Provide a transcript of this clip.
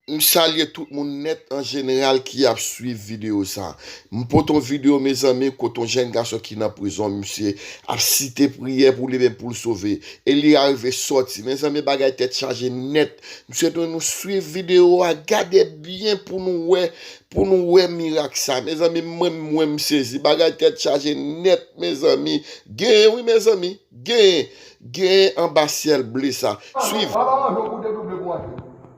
M salye tout moun nèt an jeneral ki ap swiv video sa. M pote yon video mezanmi kote yon jèn gason ki nan prizon misye ap site priyè pou limenm poul sove e li arive sòti mezanmi bagay tèt chaje nèt m swete nou swiv video a gade byen pou nou wè pou nou wè mirak sa mezanmi mwen mwen m sezi bagay tèt chaje nèt mezanmi gen wi mezanmi gen gen anba syèl ble sa swiv. Papa pa manjew pou w te double pou w achte.